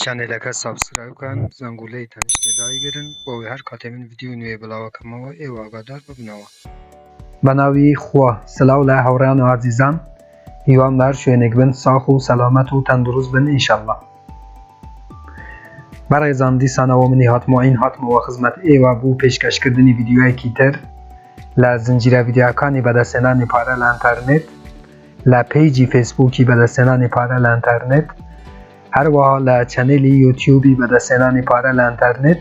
چەنێلەکە سابسکرایب کەن زەنگولەی تەنیشتێ دایگرن بۆوەی هەر کاتێ من ڤیدیۆی نوێ بڵاوەکەمەوە ئێوە ئاگادار ببنەوە. بەناوی خوا سلاو لە هاوریان و ئازیزان هیوام لە هەر شوێنێک بن ساخ و سەلامەت و تەندروست بن ان شاءاللە بەڕێزان دیسانەوە منی هاتمۆ عین هاتمەوە خزمەت ئێوە بو پێشکەش کردنی ڤیدیۆیەکی تر لە زنجیرە ڤیدیۆکانی بەدەستهێنانی پارە لە ئەنتەرنێت لە پەیجی فەیسبووکی بەدەستێنانی پارە لە ئەنتەرنێت هەروەها لە چەنێلی یوتیوبی بەدەستێنانی پارە لە ئەنتەرنێت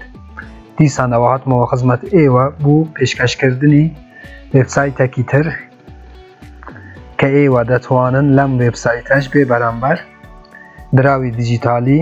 دیسانەوە هاتمەوە خزمەت ئێوە بوو پێشکەشکردنی وێبسایتەکی تر کە ئێوە دەتوانن لەم وێبسایتەش بێ بەرامبەر دراوی دیجیتالی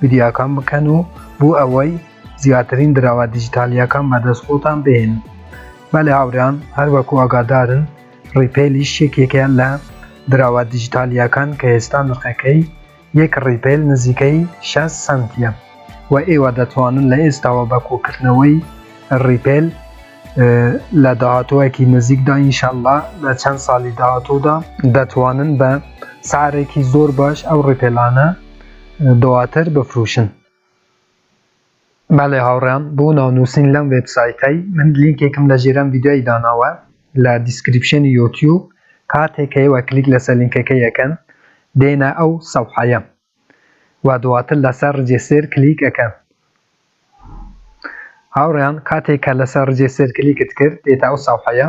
ڤیدیۆکان بکەن و بو ئەوەی زیاترین دراوە دیجیتالیەکان بەدەست خۆتان بهێنن بەلێ هاورێیان هەر وەکو ئاگادارن ڕیپەیلیش یەکێکە لە دراوە دیجیتالیەکان کە ئێستا نرخەکەی یەک ڕیپەیل نزیکەی شەست سەنتیە وە ئێوە دەتوانن لە ئێستاوە بە کۆکردنەوەی ڕیپەیل لە داهاتوەکی نزیکدا ئینشەللا لە چەند سالی داهاتودا دەتوانن بە سعرێکی زۆر باش ئەو ڕیپەیلانە دواتر بفروشن. بەلێ هاوڕێیان بو ناو نوسین لەم وێب سایتەی من لینکێکم لە ژێرەم ڤیدیۆی داناوە لە دیسکریپشنی یۆتیوب کاتێک ئێوە کلیک لەسەر لینکەکەی ئەکەن دێنە ئەو سەوحەیە و دواتر لەسەر رجێسێر کلیک ئەکەن هاوڕێیان کاتێک کە لەسەر رجێسێر کلیکت کرد دێتە ئەو سەوحەیە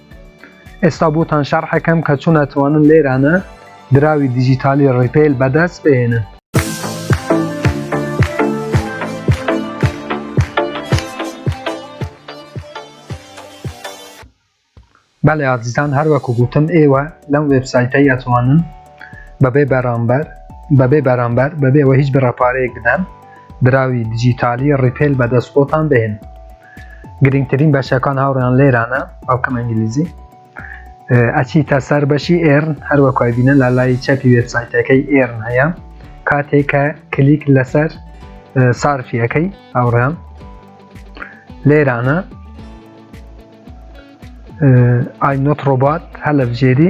ئێستا بۆتان شەڕحەکەم کە چۆن ئەتوانن لێرانە دراوی دیجیتالی ڕیپەیل بەدەست بێنن. بەڵێ ئازیزان هەروەکو گوتم ئێوە لەم وێبسایتە یاتوانن بەبێ بەرامبەر بەبێ بەرامبەر بەبێەوە هیچ بڕەپارەیەک بدەن دراوی دیجیتالی ڕیپێل بەدەست خۆتان بێن گرنگترین بەشەکان هاوڕیان لێرانە ئەوکەم ئەنگلیزی ئەچی تا سەر بەشی ئێرن هەروەکای بینە لە لای چەپی وێبسایتەکەی ئێرن هەیە کاتێک کە کلیک لەسەر سارفیەکەی هاوڕیان لێرانە ئای نۆت ڕۆبات هەلە بژێری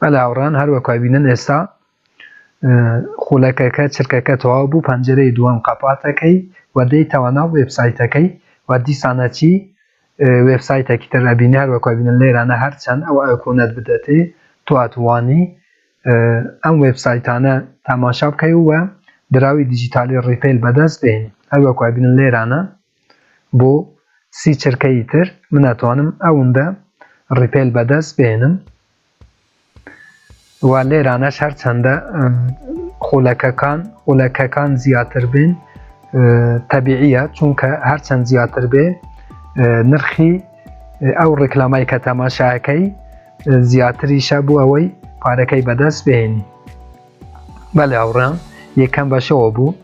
بەلێ هاوڕێیان هەروەک بینن ئێستا خولەکەکە چرکەکە تەواو بوو پەنجەرەی دووەم قەپاتەکەی و دەی تەوانا وێبسایتەکەی و دیسانەچی وێبسایتێکی تر ئەبینی هەروەک بینن لێرانە هەرچەند ئەو ئەکۆنەت بدەتێ تو ئەتوانی ئەم وێبسایتانە تاماشا بکەی و دراوی دیجیتالی ڕیپیل بەدەست بێن هەروەک بینن لێرانە بۆ سی چرکەیی تر من ئەتوانم ئەوندە ڕیپێل بەدەست بێنم و لێرانەش هەرچەندە خولەکەکان خولەکەکان زیاتر بێن تەبیعە چونکە هەرچەند زیاتر بێ نرخی ئەو ڕێکلامای کە تەماشاکەی زیاتریشە بوو ئەوەی پارەکەی بەدەست بێنی بەلی هاوڕێیان یەکەم بەشەوە بوو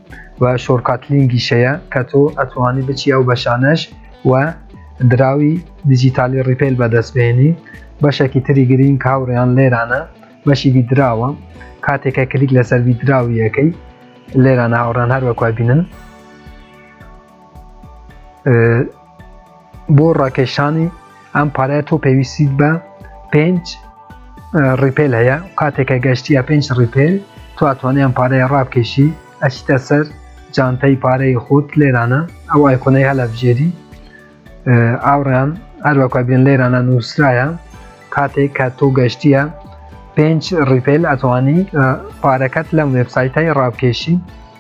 و شۆرکات لینگیشەیە کە تۆ ئەتوانی بچی ئەو بەشانەش و دراوی دیجیتالی ڕیپەیل بەدەست بێنی بەشێکی تری گرینگ هاوڕێیان لێرانە بەشی بیدراوە کاتێکە کلیک لەسەر بیدراویەکەی لێرانە هاوڕان هەروەکوای بینن بۆ ڕاکێشانی ئەم پارەیە تۆ پێویستیت بە پێنج ڕیپێل هەیە کاتێکە گەشتیە پێنج ڕیپێل تو ئەتوانێت ئەم پارەیە ڕابکێشی ئەچیتە سەر جانتەی پارەی خۆت لێرانە ئەو ئایکۆنەی هەلە بژێری ئاوڕیان هەروەکە بێن لێرانە نووسرایە کاتێک کە تۆ گەشتیە پێنج ڕیپێل ئەتوانی پارەکەت لەم وێبسایتای ڕابکێشی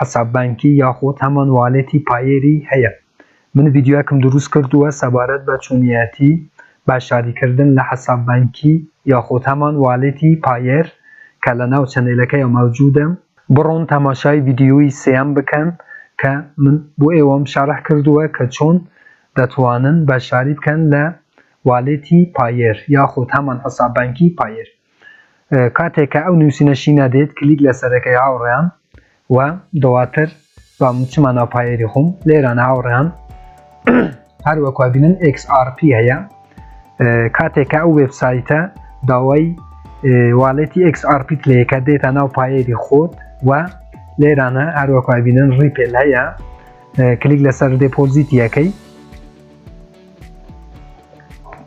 حساب بانکی یاخود هەمان والێتی پایێری هەیە من ڤیدیۆیەکم دروست کردووە سەبارەت بە چۆنیەتی باشاری کردن لە حساب بانکی یاخود هەمان والێتی پایێر کە لەناو چەنێلەکەیا مەوجودە بڕۆن تەماشای ڤیدیۆی سێیەم بکەن کە من بۆ ئێوەم شەرح کردووە کە چۆن دەتوانن باشاری بکەن لە والێتی پایێر یاخود هەمان حساب بانکی پایێر. کاتێک کە ئەو نووسینە شینە دێت کلیک لەسەر ئەکەی هاوڕێیان و دواتر با چما ناو پایەری خۆم لێران هاوڕێیان هەر وەکوا بینن XRP هەیە کاتێک کە ئەو وێبسایتە داوای والێتی XRP لەیەکە دێتە ناو پایەری خۆت و لێرانە هەر وەکوا بینن ڕیپێل هەیە کلیک لەسەر دێپۆزیتیەکەی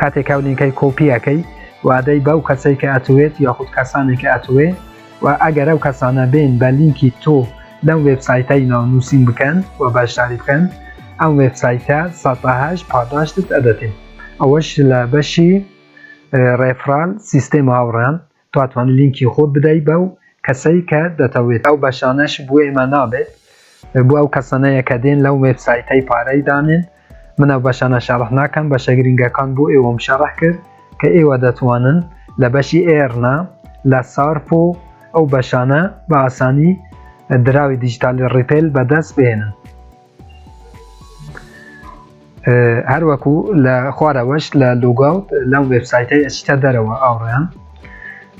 کاتێک ئەو لینکەی کۆپی ئەکەی و ئەدەی بەو کەسەی کە ئەتوێت یاخود کەسانی کە ئەتوێ و ئەگەر ئەو کەسانە بێن بە لینکی تۆ لەم وێبسایتەی ناو نووسین بکەن و بەشداری بکەن ئەم وێبسایتە سەد بە هەشت پاداشتت ئەدەتێ ئەوەش لە بەشی ڕێفران سیستێمە هاوڕێیان تۆ ئەتوانی لینکی خۆت بدەی بەو کەسەی کە دەتەوێت. ئەو بەشانەش بۆ ئێمە نابێت بۆ ئەو کەسانەیە کە دێن لەو وێب سایتەی پارەی دانێن من ئەو بەشانە شەڕح ناکەم بەشە گرینگەکان بۆ ئێوەم شەڕح کرد کە ئێوە دەتوانن لە بەشی ئێرنا لە سارپۆ ئەو بەشانە بە ئاسانی دراوی دیجیتالی ڕیپێل بەدەست بێنن. هەروەکو لە خوارەوەش لە لوگاوت لەم وێبسایتەی ئەچیتە دەرەوە ئاوڕیان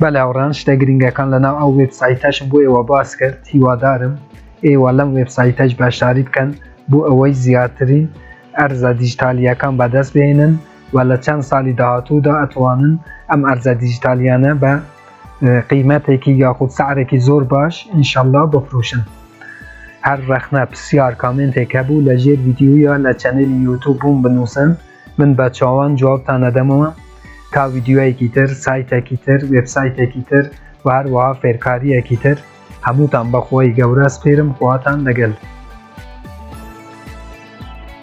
بە لاوڕان شتە گرنگەکان لەناو ئەو وێبسایتەشم بۆ ئێوە باس کرد هیوادارم ئێوە لەم وێبسایتەش بەشداری بکەن بۆ ئەوەی زیاترین ئەرزە دیجیتالیەکان بەدەست بێنن و لە چەند ساڵی داهاتوودا ئەتوانن ئەم ئەرزە دیجیتالیانە بە قیمەتێکی یاخود سعرێکی زۆر باش ئینشەڵا بفروشن هەر ڕەخنە پسیار کامێنتێک هەبوو لە ژێر ڤیدیۆیە لە چەنێلی یوتوب بووم بنووسن من بە چاوان جوابتان ئەدەمەوە تا ڤیدیۆیەکی تر سایتەکی تر وێبسایتێکی تر و هەروەها فێرکاریەکی تر هەمووتان بەخوای گەورە سپێرم خواتان لەگەل.